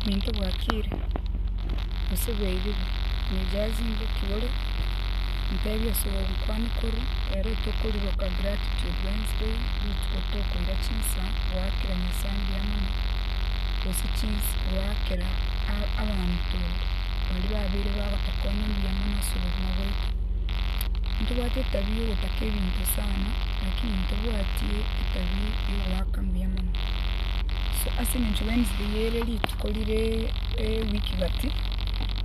Omonto bwakire, gose bwaigigwa, nijae zinduki ore, ntebie ase obogima kwane korwa ere tokoriroka gratitude Wednesday rituko tokoira chinsa goakera Nyasae mbuya mono, gose chins goakera a- abanto baria babeire bagotokonya mbuya mono ase obogima bwaito. Ntobwate etabia ya ogotaka ebinto sana, lakini ntobwati etabia ya ogoaka mbuya mono. So ase engencho Wednesday eye ere rituko rire ewiki gati,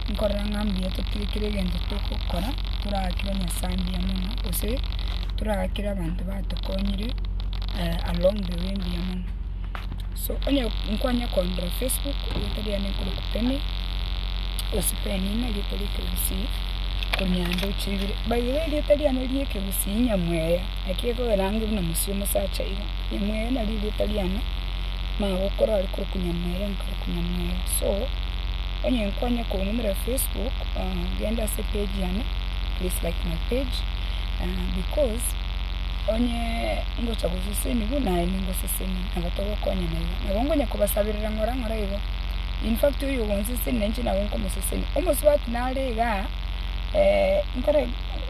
nkorora ng'a mbuya totebe kera egento togokora toragakere Nyasae mbuya mono, gose toragakere abanto batokonyire along the way mbuya mono. So onye nkwanyia korora Facebook, erieta riane ekero Kutani, gose Penina erieta ria Ekegusii, Konyando chibire. By the way erieta riane ria Ekegusii Nyamweya, naki egokeragerwa buna Musii omosacha iga. Nyamweya nari erieta riane, magokora are korokwa Nyamweya nkarokwa Nyamweya. So, onye kwanya kong'umera Facebook, genda ase page yane, please like my page, because onye ngocha gosesenigwa naye ningoseseni, nabo togokonya na iga. Nabo ngonya kobasaberera ng'ora ng'ora igo. In fact oyo ogonsesenia inche nabo nkomoseseni. Omosubati nare igaa, nkore.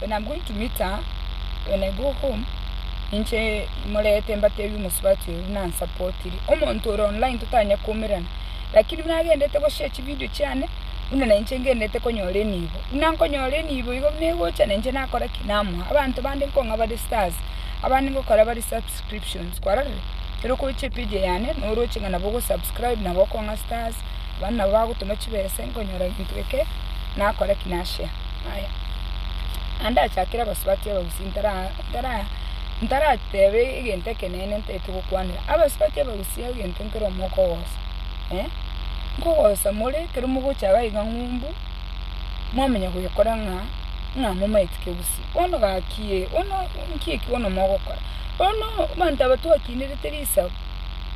When I'm going to meet her, when I go home, ninche imorete mbatebi omosubati oyo buna ansapotiri. Omonto ore online totanya koumerana, lakini buna agendete goshare chividio chiane, buna nainche ngendete konyora enibo. Buna nkonyora enibo igo buna egocha nainche nakora ki? Namoa. Abanto bande nkong'a bare stars, abande ngokora bare subscriptions, kwarorire? Ekero okoroche epage eyane, noroche ng'a nabo ogosubscribe, nabo okong'a stars. abana nabo bagotoma chibesa inkonyora ginto eke, nakore ki nashea? Aya, naende achakere abasubati abagusii ntara ntara ntaratebe egento ekenene ntaete gokwanera. Abasubati abagusii egento nkere omwoko ogosa, eh, nkogosa more ekero mogocha iga iga ng'umbu, mwamanya goyekora ng'a ng'a momaeti kegusii. Bono gaki eh, bono nki eki bono mogokora? Bono abanto aba twakinirete risabu.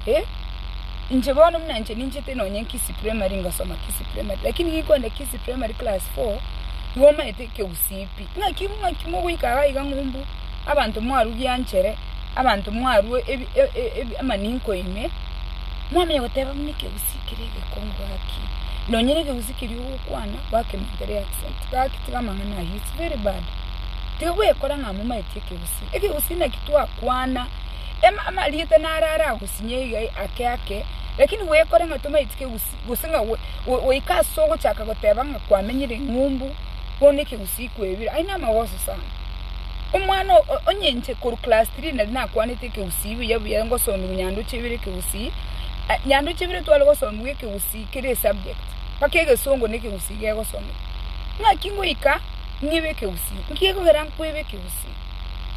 Eh, inche bono buna inche ninchete nonye Nkisi Primary ngasoma Nkisi Primary, lakini nigo nkoenda Nkisi Primary class four, igo omanyete ekegusii pi. Ng'aki ng'aki mogoika iga iga ng'umbu, abanto mwarugianchere, abanto mwarwa ebi- e- e- ebi- amaninko ime, mwamanya goteba buna ekegusii kere egekongu gaki, nonye na ekegusii keria ogokwana, gwakeminyotere accent, gaki tiga amang'ana ayio, it's very bad. Tiga goyekora ng'a momaeti ekegusii. Ekegusii naki twakwana. Emama riete naro aragosinye iga ake ake, lakini goyekore ng'a tomaetiki egusii, gose ng'a goika ase ogochaka goteba ng'a kwamenyire eng'umbu, bono ekegusii kwebire, ayio namagoso sana. Omwana onye inche korwa class three nari nakwanete ekegusii buya buya ngosomiwa nyandoche ibere ekegusii, nyandoche ibere tware gosomiwa ekegusii kera esubject, mpaka egesongo na ekegusii gegosomiwa. Naki ngoika ng'ibe ekegusii, nki gekogera nkwebe ekegusii?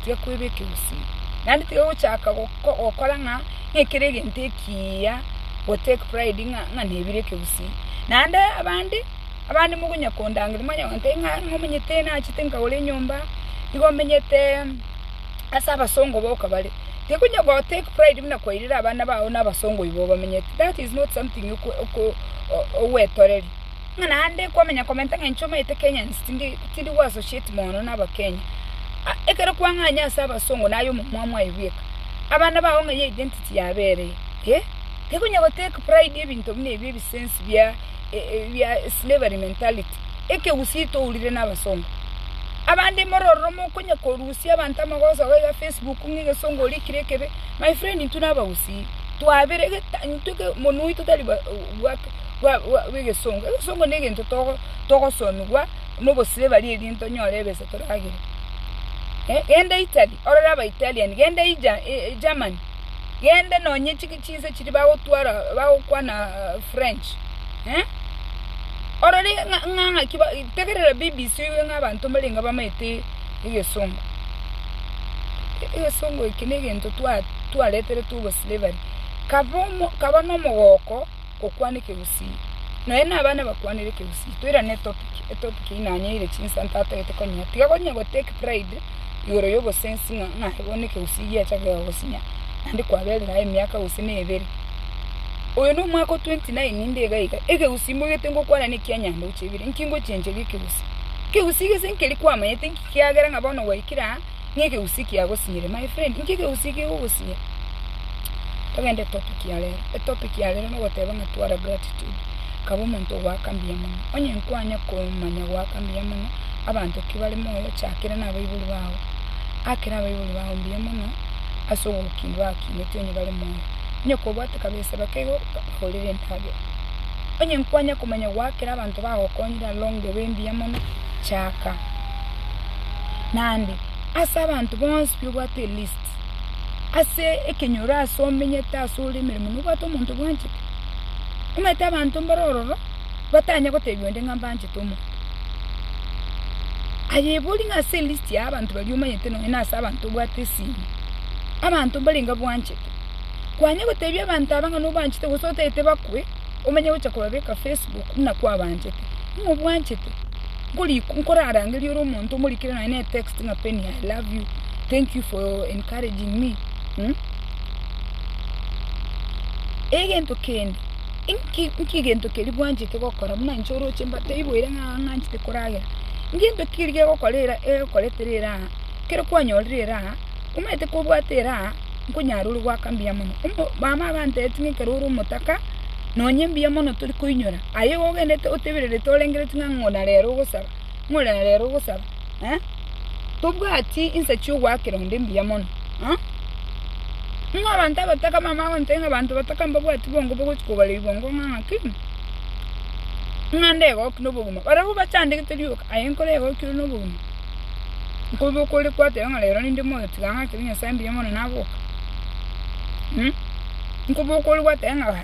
tiga kwebeka ebosio, naende tiga gochaka gokora ng'a ng'ekere egento ekiya go take pride ng'a nebire ekegusii. Naende abande, abande mogonya kondangeria mwanya gontebia ng'a nigo omenyete nachete nkagora enyomba, nigo omenyete ase abasongo boka bare, tiga konya go take pride buna kwairire abana bao na abasongo oibo obamenyete, that is not something oko oko ogwetoreri. Ng'a naende kwamenya komenta ng'encho omanyete Kenya nse tindi tindi go associate mono na abakenya. Ah ekero kwang'anya ase abasongo naye omomua mwaebweka. Abana bao ng'a ye identity yabo ere eye. Eeh tekonya go take pride ebinto buna ebi ebisense bia bia slavery mentality. Ekegusii tourire na abasongo. Abande more ororo mokonya korusia abanto amagoso iga iga Facebook ng'a egesongo orikire ekebe. My friend intwe na abagusii. Twabere geta intwe ke omonwa oito tari ba bwake. bwa bwa bw'egesongo. Egesongo na egento togo togosomigwa nobosire bari erinde tonyore ebesa toragere. Eh, genda Italy, orore abaitalian, genda Ija eh, Germany, gende nonye chiki chinse chiria bagotwara bagokwana ah, French. Eh? Orore ng'a- ng'a ng'aki ba- tegerera BBC oigwe ng'a abanto mbarenge abamaete egesongo. Egesongo eke na egento twa- twareteretwe oboslavery. Kaba omo kaba nomogooko. gokwana ekegusii. Nonya na abana bakwanere ekegusii toirane etopic etopic eye nanyeire chinsa ntatagete konyea tiga konya go take pride igoro ya obosensi ng'a naye bono ekegusii giacha kegosinya naende kwaberire aye emiaka gose na ebere. Oyo na omwaka o twenty nine inde iga iga ekegusii moigete ngokwana na ekia nyambia gochia ebere inki ngochencheria ekegusii? Ekegusii gese nkeria kwamanyete inki kiagera ng'a bono gwaikire aa. N'ekegusii kiagosinyire my friend, inki ekegusii kegogosinyira? Togende topic ya rero, etopic ya rero nogoteba ng'a twara gratitude, kaba omonto ogoaka mbuya mono. Onye nkwanya komanya goaka mbuya mono abanto ki bare moyo, chakera nabaibori bao. Akera abaibori bao mbuya mono ase oborukingo bagokineti onye bare moyo. Onye kobwate kabesa bakeiga bakorere endagera. Onye nkwanya komanya goakera abanto bagokonyire along the way mbuya mono, chaka. naende ase abanto bonsi bw'obwate elisti, ase ekenyoro aase omenyete aase ore emeremo nobwate omonto obwanchete, omanyete abanto mbare ororo batanya gotebiwa inde ng'a mbanchete omonto. Aye ebori ng'a ase elisti ya abanto baria omanyete nonye na ase abanto obwate esimi, abanto mbarenge abwanchete, kwanya gotebia abanto aba ng'a nobanchete gose otagete bakwe, omanye gocha kobabeka facebook buna kwabanchete, ng'a obwanchete. nkorarangeria ore omonto omorikire nonye ne text ng'a Penny I love you, thank you for encouraging me mh? Egento kende, inki inki egento keria bwanchete gokora buna inche oroche mba teiboire ng'a ng'anchete koragera, ngento ki keria gegokora era egokoretera eraa, kero kwanyorire eraa, omanyete kobwate eraa, nkonyara ore goaka mbuya mono. Omo mama abantebitie ng'a ekero ore omotaka, nonye mbuya mono tori koinyora. Aye igo ogendete otebererete orengereti ng'a ng'ona rero ogosara, ng'ona rero ogosara, eh? Tobwati insa chi'ogoakera onde mbuya mono, eh? Ng'a abanto abataka mama agontebia ng'a abanto bataka mbabwati bongo bagochi kogareri bongo ng'a ng'aki, ng'a ndegoki nobogima. Barabwo bachandegete rioka, aye nkore egoki ore nobogima. Nkoba okore kwateba ng'a rero ninde moyo tiga ng'akere Nyasae mbuya mono naboke, nkoba okore gwateba ng'a.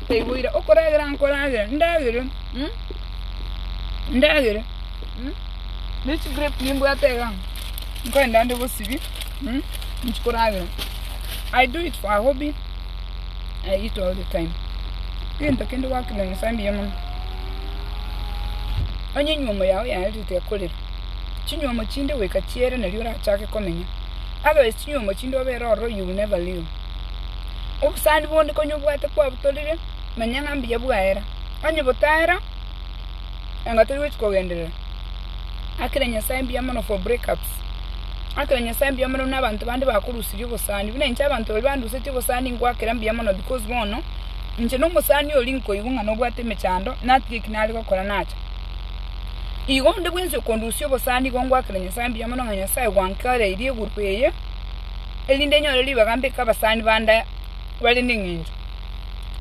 Taiboire okoragera nkoragere, ndagere, ndagere, ne chigrape nimbwate iga, nkorende ande bosibie, nchikoragera, I do it for a hobby, I eat all the time, kegento kende gwakina Nyasae mbuya mono. Onye enywomo yao yaerete ekorera, chinywomo chinde goika chiere nario orachake komenya, otherwise chinywomo chinde obere ororo you will never live. Obosani bonde konya obwate kwabutorire, manya ng'a mbuya bwaera. Onye botaera, nabo tori gochia kogenderera. Akire Nyasae mbuya mono for break ups. Akire Nyasae mbuya mono buna abanto bande bakorusirie obosani. Buna inche abanto baria bandusetie obosani ngwakera mbuya mono because bono, inche nomosani oria nkoigwa ng'a nobwate emechando, natiga eki nare gokora nacha. Igo onde bwensi okondusia obosani igo ngwakera Nyasae mbuya mono ng'a Nyasae gwankoreirie eguru eye. erinde nyore ribaga mbe kabasani bande bare neng'encho.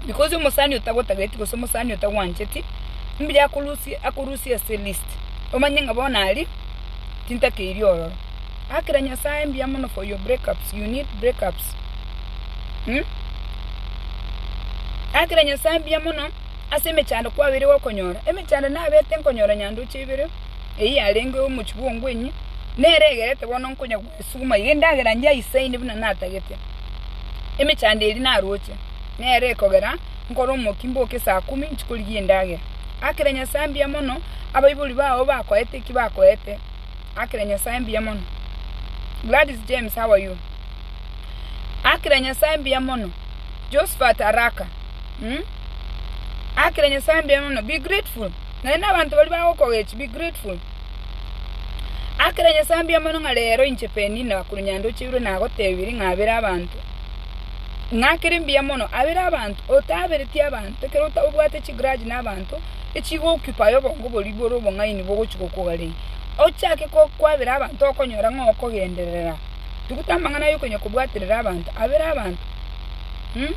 Because omosani otagotageti gose omosani otagwancheti, mbuya akorusie akorusie ase list, omanye ng'a bono ari tintakeiri ororo. Akira Nyasaye mbuya mono for your break ups, you need break ups um. Akira Nyasaye mbuya mono ase emechando kwabeire gokonyora, emechando nabete nkonyora nyandoche ibere, eyio yarenge omochie bwa Ongwenyi, nere egerete bono nkonya. Sukuma iga endagera njaisaine buna natagete. Emechando eria naroche, nero ekogera nkore omokia mboke saa kumi inchi korigia endagera. Akera Nyasae mbuya mono, abaibori bao bakoete eki bakoete. Akera Nyasae mbuya mono. Gladys James, how are you? Akera Nyasae mbuya mono. Josephat Araka, mm? Akera Nyasae mbuya mono. Be grateful. Naende abanto baria bagokogechi, be grateful. Akera Nyasae mbuya mono ng'a reero inche Penina korwa Nyandocheirwe nagotebirie ng'abere abanto, ng'akere mbuya mono, abere abanto, otaberetie abanto, ekero obwate chigrudge na abanto, echigokupaye obongo boria bore obong'aini bogochia gokogarei, ochake ko kwabera abanto okonyora ng'a okogenderera. Tuguta amang'ana aye okonya kobwaterera abanto, abere abanto mh.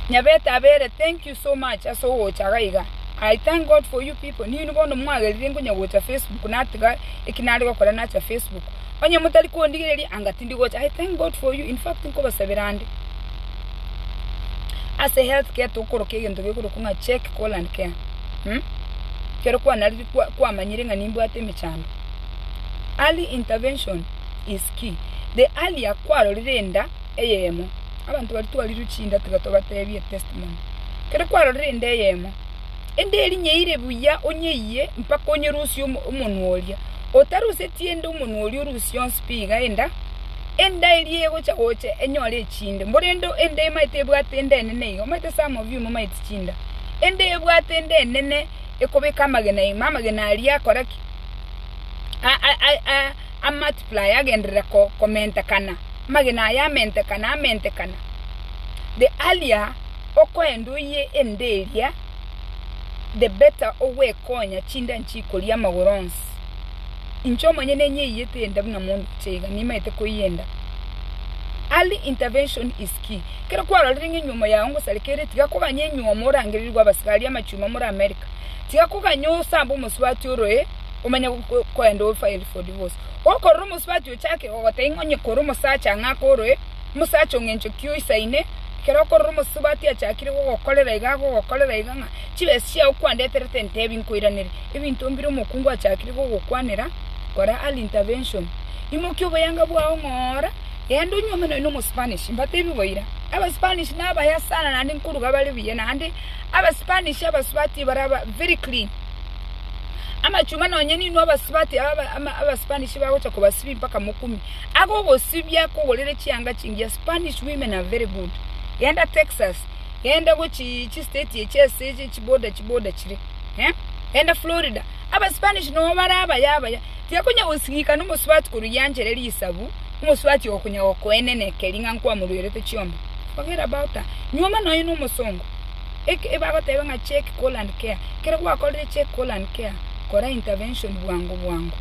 Nyabete abere, thank you so much ase ogocha iga iga. I thank God for you people, ninwe bono mwagerire nkonya gocha Facebook natiga eki nare gokora nacha Facebook. Onye motari kondigereria anga tindi gocha. I thank God for you, in fact nkobasabera ande. Ase health care tokoroka egento gekorokwa ng'a check, call and care. Hmm? Kero kwanariri kwa- kwamanyire ng'a nimbwate emechando. Early intervention is key. The earlier kwarorire enda eyemo, Abanto baria twarirwe chinda tiga tobatebie etestimoni. Kere kwarorire inde eyemo, inde erinyeire buya onyeyie mpaka onyerusie omonwa oria. Otaruseti inde omonwa oria orusie onsi pi iga enda, enda eria egocha gocha enyore echinde. Mborende inde emaete ebwate inde enene iga, omaete some of you momaeti chinda. Inde ebwate inde enene ekobeka amagena ime, amagena aria akora ki? a multiply agenderera komentekana. amagena aya amentekana amentekana, the earlier okoenda oyie ende eria, the better ogwekonya chinda nchikoria amagoro onsi. Inche omonyene nyeiyete enda buna mondoche iga, nimaete koiyenda. Early intervention is key. Ekero kwarorire ng'a enyiomo yao ngosareka ere, tiga koganya enyiomo orangererigwe abasigari amachuma more America. Tiga koganya osambe omosubati oroe omanye koenda o file for divorce. Gokorora omosubachi ochake goteba ng'a onye kore omosacha ng'a akorwe, omosacha o ng'encho ki oisaine, ekero okorora omosubati achakire gogokorera iga agogokorera iga ng'a chibesa chiao kwandeterete ntebi nkoiranere, ebinto mbire omokungu achakire gogokwanera, kora early intervention. Imokia oboyanga bwao ng'ora, genda onyuome nonya omospanish. Mbatebi boira, abaspanish nabaya sana naende nkoruga bare buya naende abaspanish abasubati baraba very clean. Amachuma nonye ninwe abasibati aba abaSpanish bagocha kobasibia mpaka mokumi. Agogosibia kogorere chianga chingiya Spanish women are very good. Genda Texas, genda gochi chi state echi ase echi chi border chi border chire. Eh? Genda Florida. AbaSpanish no bare abaya abaya. Tiakonya gosing'ika na omosibati korwa yanchera eri isabu, omosibati okonya gokoenenekeri ng'a nkwamorwerete chiombe. Forget about her. Nyuoma nonye na omosongo. Eki ebagoteba ng'a check call and care, kero gwakorire check call and care kora intervention bwango bwango.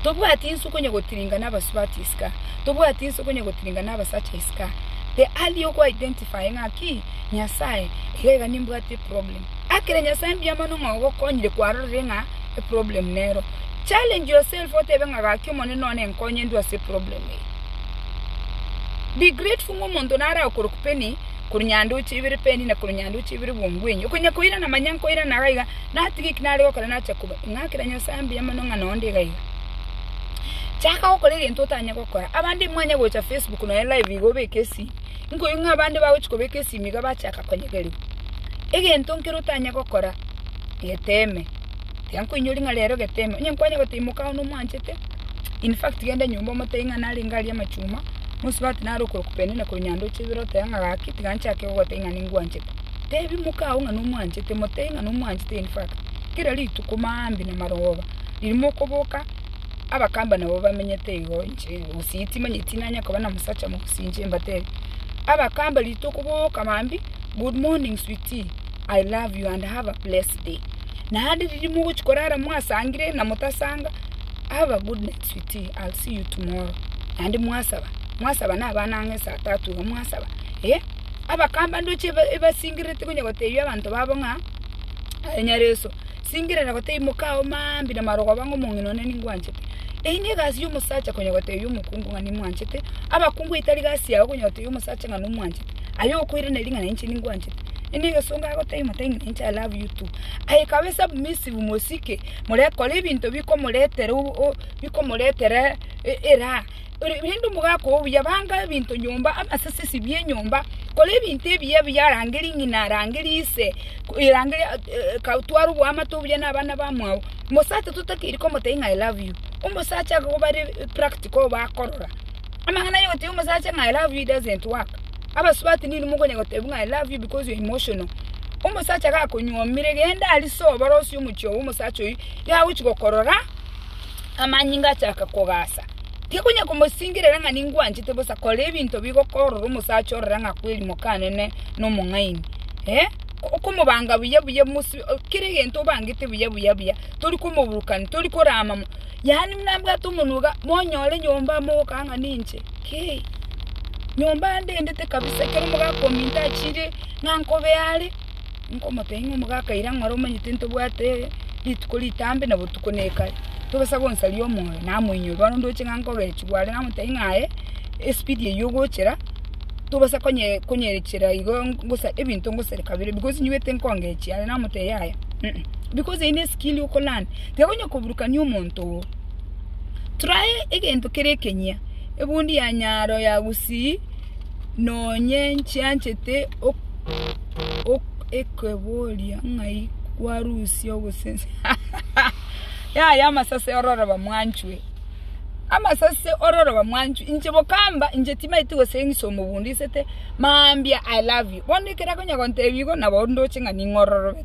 Tobwati inse okonya gotiringa nabasubati iska, tobwati inse okonya gotiringa nabasacha iska, the early oko identify ng'aki Nyasaye iga iga nimbwate eproblem, akire Nyasaye mbuya mono ng'a ogokonyire kwarorire ng'a eproblem nero. Challenge yourself otebe ng'a gaki Omonene one nkonye ndwe ase eproblem eye. Be grateful ng'omonto nare agokorokpeni. korwa nyanduche ibere peni na korwa nyanduche ibere bwongwenyi, okonya koirana manya nkoirana iga iga, natige eki nare gokora nache koba, ing'akera Nyasae mbuya mono ng'a nonde iga iga. Chaka gokora egento otanye gokora, abande mwanye gocha Facebook nonye live iga obeke esimi, nkoigwe ng'a abande bagochi kobeka esimi iga bachaka konyegerigwa, egento nkere otanye gokora, geteme. Tiankoinyori ng'a rero gete ime. Onye nkwanye goteba imoka aye nomwanchete, in fact genda nyomba omotebie ng'a narenge aria amachuma, mosubati naro okoroku penina korwa nyandoche ibere otebe ng'a gaki tiga nchake gogotebia ng'a ningwanchete. Tebia imoka agwo ng'a nomwanchete, motebie ng'a nomwanchete in fact. Kera rituko maambia na marogoba, riria mokoboka abakamba nabo bamenyete igo inche gose timanyeti tinanya koba na mosacha mogusii inche mbatebie, abakamba rituko boka maambia, good morning sweetie. I love you and have a blessed day. Naende riria mogochia korara mwasangire na motasanga, have a good night sweetie, I'll see you tomorrow. Naende mwasaba, mwasaba na abana ang'e saa tatu iga mwasaba. Eh, abakamba ndoche eba- ebasingerete konya gotebia abanto babo ng'a, aye Nyareso, singerera gotebia mokao mambia na marogoba ng'a omong'ina one ningwanchete. Eyio negasi ya omosacha konya gotebia omokungu ng'a nimwanchete, abakungu etari gasi yao konya gotebia omosacha ng'a nomwanchete. Aye okoiraneria ng'a nainche ningwanchete, nigo egesongo agotebia motabe ng'a nainche I love you too. Aye ekaba esubmissive mosike, morekora ebinto bikomoretera o- o- bikomoretera e- eraha. Ore- Rende omogaka oo buya banga ebinto nyomba, amasisisi bia enyomba, kora ebinto ebiya ebiya arangerie ng'ina, arangerie ise, ko- erangerie a- e- ka tware oboamate obuya na abana bamwabo. Mosacha totakeiri komotebia ng'a I love you, omosacha akoba ri- practical obakorora. Amang'ana ay'ogotebia omosacha ng'a I love you doesn't work. Abasubati ninwe mokonya gotebia ng'a I love you because you're emotional. Omosacha gakonyuomire genda aria sobare osie omochie obo omosacha oyio nigo agochi gokorora amanyinga achaka kogasa. Tiga konya komosingerera ng'a ningwanchete bosa kora ebinto bigokorora omosacha orore ng'a kweri mokanene na omong'aini. Eh, okomobanga buya buya mosibe kera egento obangete buya buya buya tori komoburukani tori korama mo. Yaani nambwate omonoga, monyore nyomba amo gokaa ng'a ninche. Kei, nyomba ande endete kabisa, ekero omogaka ominto achiire ng'a nkobe are, nkomotebia ng'a omogaka ira ng'ore omanyete ntobwate rituko ritambe na botuko na ekare, togesa gonsaria omoyo, namoinyora. Bono ndoche ng'a nkogechigwa are namotebia ng'a aye espeed eywo ogochera, tobasa konye konyerechera igo ngosa ebinto ngosere kabere because nyigwete nkongechia are, namotebia yaya, because eyio ne skill oko learn. tekonya koburukania omonto oo. Try egento kere ekenyia, ebundi ya nyaro ya gusii nonye nchianchete ekoboria ng'ai kwarusia ogosense yaya amasase ororoba mwanchwe. Amasase ororoba mwanchwe inche bokamba inche timaeti goseng'isa omobundisete mambia I love you. Bono ekero akonya gontebi igo nabo ndoche ng'a ning'ororobete.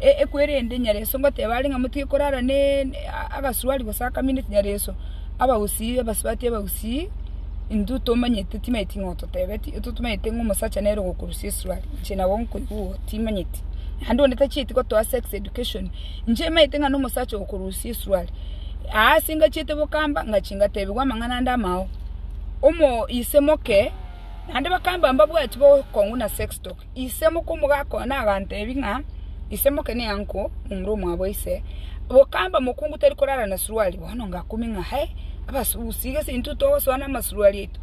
ekwe erende nyareso ngoteba are ng'a motige korara ne agasuruari gose akamineti nyareso, abagusii abasubati abagusii intwe tomanyete timanyeti ng'a ototebeti, intwe tomanyeti ng'a omosacha nere ogokorusia esuruari, inche nabo nkoigwa igo timanyeti, naende onde tachieti gotoa sex education, inche emanyete ng'a na omosacha okorusia esuruari, aa ase ngachiete bokamba ngachia ngatebigwa amang'ana ande amao, omo ise moke, naende bakamba mbabwati bokong'u na sex talk. Ise mokomogakoa nagantebi ng'a, Ise moke neanko momura omwabo ise, bokamba mokungu tari korara na suruari, bono ngakumi ng'a he, abasugusi gese intwe togosoa namasuruari aito.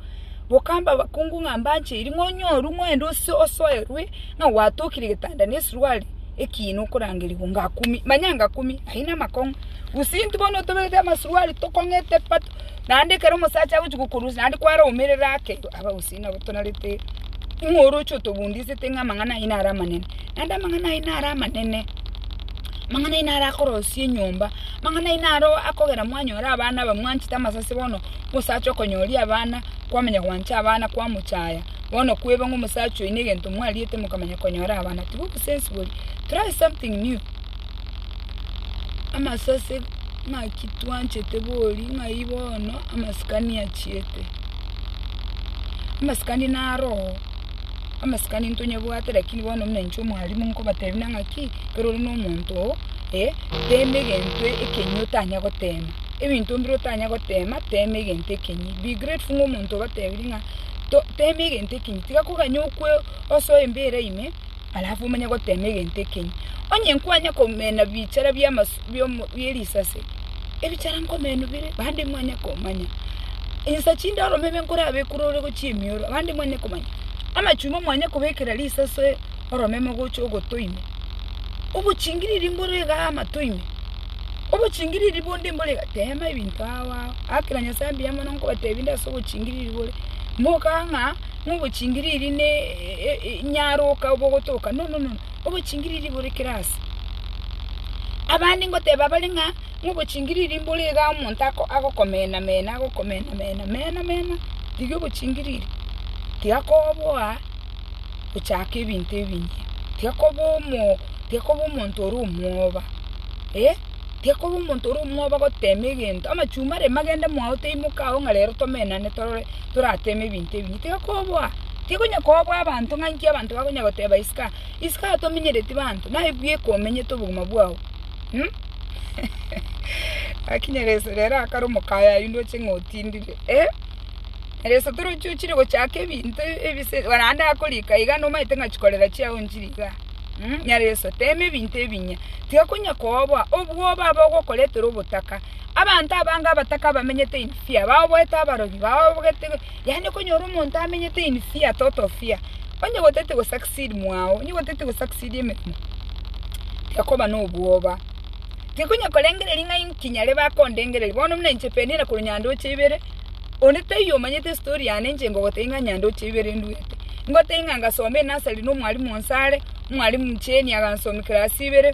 Bokamba abakungu ng'a mbancheiri ng'a onyorwe moende ose osoerwe ng'a gwatokire getanda ne suruari ekiina okorangeriwa ngakumi, manya ngakumi ai namakong'u. Gose intwe bono toberete amasuruari tokong'ete pato, naende ekero omosacha agochia kokorusia naende kware omerere ake. Nabo torarete ng'a oroche otobundisete ng'a amang'ana aye nare amanene, naende amang'ana aye nare amanene, amang'ana aye nare akorosia enyomba, amang'ana aye naro akogera mwanyora abana aba mwanchete amasase bono, omosacha okonyoria abana, kwamanya gwancha abana kwamochaya, bono kweba ng'a omosacha oyo negento mwariete mokamanya konyora abana, tigo obosensibori, try something new. amasase ng'aki twanchete bori ng'ai bono amasikani achiete. Amasikani naro oo, amasikani ntonyebwate lakini bono omenche omwalimu nkobatebi buna ng'aki ekero ore nomonto oo eh, tema egento ekenyi otanya gotema. Ebinto mbire otanya gotema, tema egento ekenyi. Be grateful ng'a omonto obatebirie ng'a to tema egento ekenyi. Tiga koganya okwe osoe mbera ime. alafu omanye gotema egento ekenyi. Onye nkwanya komena bichara bierisase, ebichara nkomenu bire, bande mwanya komanya. Insa chinde oromeme nkorabe ekure ore gochia emioro, bande mwanya komanya. Amachuma mwanya kobekera risase oromeme gocha ogotoime. Obochingiriri mbore iga amatoime, obochingiriri bonde mbore iga, tema ebinto agwo agwo. Agakera Nyasae mbuya mono nkobatebi nde ase obochingiriri bore, moka ng'a. nobochingiriri ne nyaroka obogotoka, no, no, no, obochingiriri bore kera aase. Abande ngoteba bare ng'a nobochingiriri mbore iga omonto ako agokomena mena, agokomena mena, mena mena, riria obochingiriri tigakoboa gochaka ebinto ebinge, tigakoba omo tigakoba omonto ore omwoba, eh, tigakoba omonto ore omwoba gotema egento, amachumare magende mwao taimoka ao ng'a rero tomenane torore. torateme ebinto ebi, tiga koboa, tiga onye koboa abanto ng'a inki abanto bakonya goteba isiko, isiko aa tomenyereti banto, naye bweka omenyete obogima bwao um Gaki Nyereso rero akare omokayo ayio ndoche ng'a otindire eh, Nyereso torochi ochire gochaka ebinto ebise naende akorika iga naende omanyete ng'a chikorera chiao nchire igaa um Nyereso tema ebinto ebinya, tiga konya koboa, obwoba abo ogokoretera obotaka, abanto abange abataka abamenyete in. Fear, bagoeta abarogi, bababogete, yaani okonyora omonto amenyete in fear, total fear, onye goteti go succeed mwao, onye goteti go succeed emeremo, tiakoba na obwoba, tikonya korengereria ng'a inki nyare bakondengereria, bono buna inche Penina korwa Nyandoche ibere, onde taiyo omanyete estory yane inche ngogotebia ng'a Nyandoche ibere induete, ngotebie ng'a ngasoma enasari na omwarimu onsi are, omwarimu Jane agansomia class ibere.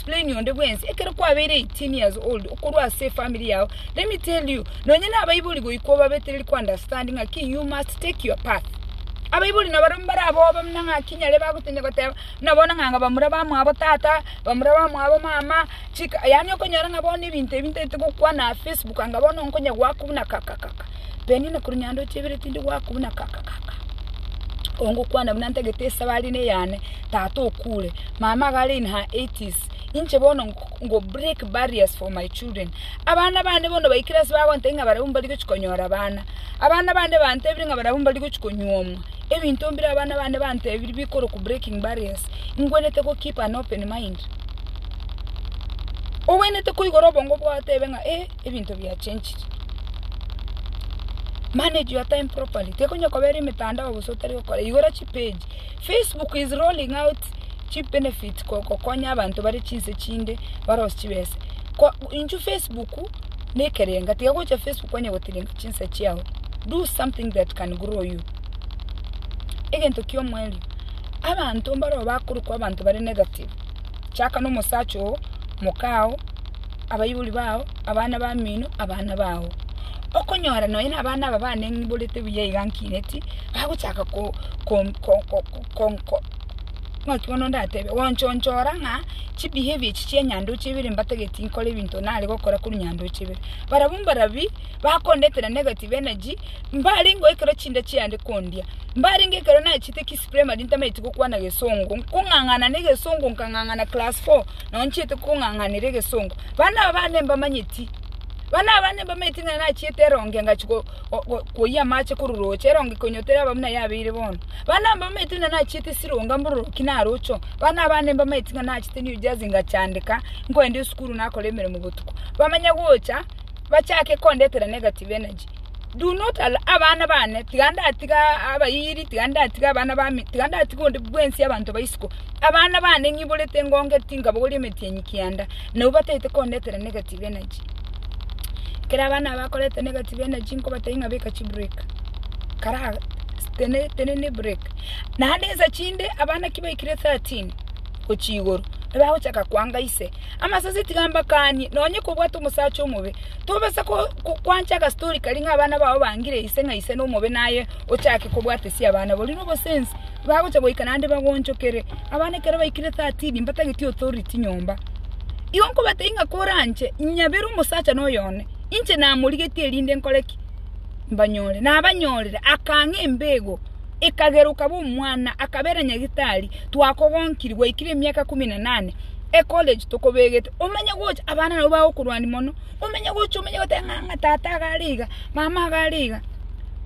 Explain onde bwensi ekero kwabeire 18 years old okorwa ase efamiri yao, let me tell you nonye nabaibori goika obabetereri ko understand ng'aki you must take your path. Abaibori nabaro mbarabobe buna ng'aki nyare bagotebia goteba buna bono ng'a bamura bamwabo tata, bamura bamwabo mama, chika yaani okonyora ng'a bono ebinto ebi ntaete gokwana Facebook anga bono nkonye goakwa buna kakakaka. Penina korwa nyandoche ibere tindi gwaka buna kaka kaka. Ongokwana buna ntagete esabari ne yane tata okure. Mama iga are in her 80s. Inche bono ngo break barriers for my children. Abana bande bono baikire ase bagontebia ng'a barabwo mbari gochi konyora abana. Abana bande bantebire ng'a barabwo mbari gochi konyuomwa. Ebinto mbire abana bande bantebiri bikorokwa breaking barriers. Ngwenerete go keep an open mind. Ogwenerete koigora obongo bwao otebe ng'a eh. ebinto biachenchire. Manage your time properly, tekonya koba ere emetandao bosa otari gokora, igora chi page. Facebook is rolling out chi benefits kokonya abanto bare chinse chinde barosie chibesa. Ko intwe Facebook na ekerenga, tiga gocha Facebook kwanye gotirimba chinsa chiao, do something that can grow you. Egento kia omoerio, abanto mbareo bakorokwa abanto bare negative, chaka na omosacha oo, moka oo. abaibori bao, abana bamino, abana bao. Okonyora nonya na abana aba baneng'iborete buya iga nkineti, bagochaka ko ko ko ko ko naki bono ndatebe, gonchonchora ng'a chibehaviour echi chia nyandoche ibere mbatageti nkore ebinto nare gokora korwa nyandoche ibere. Barabwo mbarabwo, bakondetera negative energy, mbarengeo ekero chinda chiande kondia, mbarenge ekero nachete kisi primary ntamaeti gokwana gesongo, nkong'ang'ana na egesongo nkang'ang'ana class four. naonchete kong'ang'anera egesongo. Bana abane mbamanyeti, bana abane mbamanyeti ng'a nachiete eronge ngachi go- go- go- koyia amache kororoche, eronge konyotera aba buna yabeire bono. Bana mbamanyeti ng'a nachiete esironga mbororoki narocho, bana abane mbamanyeti ng'a nachete ne ujazi ngachandeka, nkoenda esukuru nakora emeremo botuko. Bamanya gocha, bachake kondetera negative energy. Do not allow abana bane, tiga ndatiga abayiri, tiga ndatiga abana bami, tiga ndatiga onde bwensi abanto ba isiko, abana bane ng'iborete engonge tinkabogoria emetienyi kianda, na abwo bataete kondetera negative energy. Ekero abana aba bakoreta negative energy nkobatebi ng'a beka chiburek, kara tene tenena eburek. Naende ensa chinde, abana ki baikire thirteen gochia igoro, nigo bagochaka kwanga ise, amasase tiga mbakanie, nonye kobwate omosacha omobe. Tobasa gokwancha agastori karia ng'a abana bao bangire ise ng'a ise nomobe naye ochake kobwatesia abana baria nobosensi, bagocha goika naende bagoonchokere. Abana ekero baikire thirteen mbatageti authority nyomba. Igo nkobatebi ng'a koranche nyabere omosacha na oyone, inche namorigetie erinde nkore ki? Mbanyore. Nabanyorire, akang'a embeego. ikageruka bw'omwana akabera nyagitari twakogonkiri gwaikire emiaka ikomi na enane ecollege tokobegete omenye gocha abana nabwo bagokorwania mono omenye gocha omenye goteba ng'a ng'a tata iga are iga mama iga are iga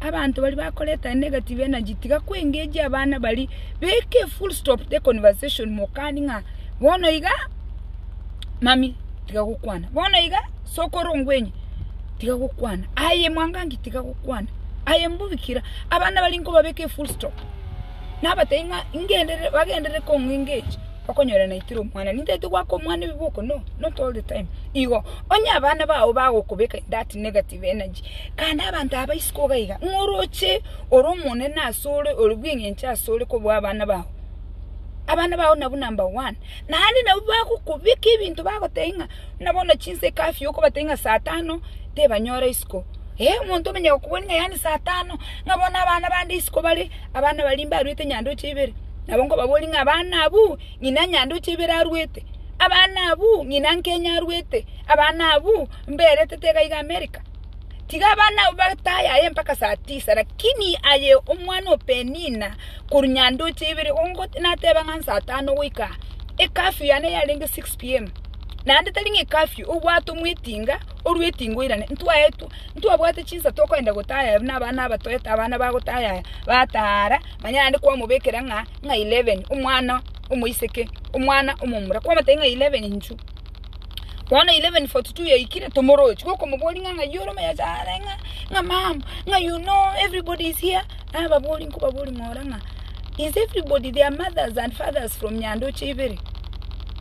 abanto baria bakoreta negative energy tiga kwengejia abana baria beka efull stop the conversation mokani ng'a bono iga mami tiga gokwana bono iga. Sokoro ngwenye, tiga gokwana. Aye mwangangi, tiga gokwana. Aye mbubikira, abana baria nkobabeka efull stop. Nabatebi ng'a ngenderere, bagenderere kong'u engage, okonyora naitire omwana. Nintagete goaka omwana ebiboko? No, not all the time. Igo, onye abana bao bagokobeka in that negative energy, kande abanto aba isiko iga iga, ng'a oroche ore omonene asore, ore bweng'encho asore kobua abana bao. Abana bao nabwo number one. Naende nabwo bagokobeka ebinto bagotebi ng'a Buna bono chinsa ecurfew okobatebia ng'a saa tano tebanyora isiko, eh omonto omenye gokobori ng'a yaani saa tano ng'a bono abana bande isiko bare, abana baria mbaruete nyandoche ibere, nabo nkobabori ng'a abana abwo ng'ina nyandoche ibere aruete, abana abwo ng'ina nkenya aruete, abana abwo mberetete iga iga america. Tiga abana abwo bataye aye mpaka saa tisa lakini aye omwana o Penina korwa nyandoche ibere gongo nateba ng'a nsa tano goika aa, ecurfew yane yarenge six pm. naende tari ng'a ecurfew, obwate omwetinga orue etinga oirane. Ntwaetwa, ntwabwate chinsa tokoenda gotaya aye buna abana aba toete abana bagotaya aya, bataha ara, manya naende kwamobekera ng'a ng'a eleven omwana omoiseke, omwana omomura, kwamotebia ng'a eleven inchu. Bono eleven forty two yaikire tomoroche, gokomoboria ng'a ng'ai ore omoyasa are ng'a ng'a mama, ng'a you know everybody is here, nababoria nkobaboria ng'a ora ng'a is everybody their mothers and fathers from Nyandoche ibere?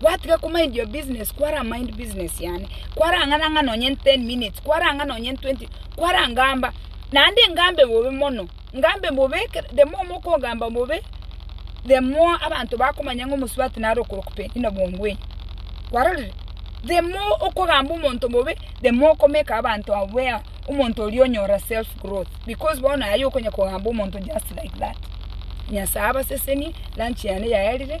Gwatiga ko mind your business, kwara mind business yane. Kwarang'ana ng'a nonye 10 minutes, kwarang'a nonye 20, kwarangamba. Naende ngambe bobe mono, ngambe bobe, the more mokogamba bobe, the more abanto bakomanya ng'a omosubati nare okorokwa in obongweyo. Kwarorire? The more okogamba omonto bobe, the more okomeka abanto aware omonto oria onyora self growth because bono aye okonya kogamba omonto just like that. Nyasae abasesenie, lunch yane yaerire.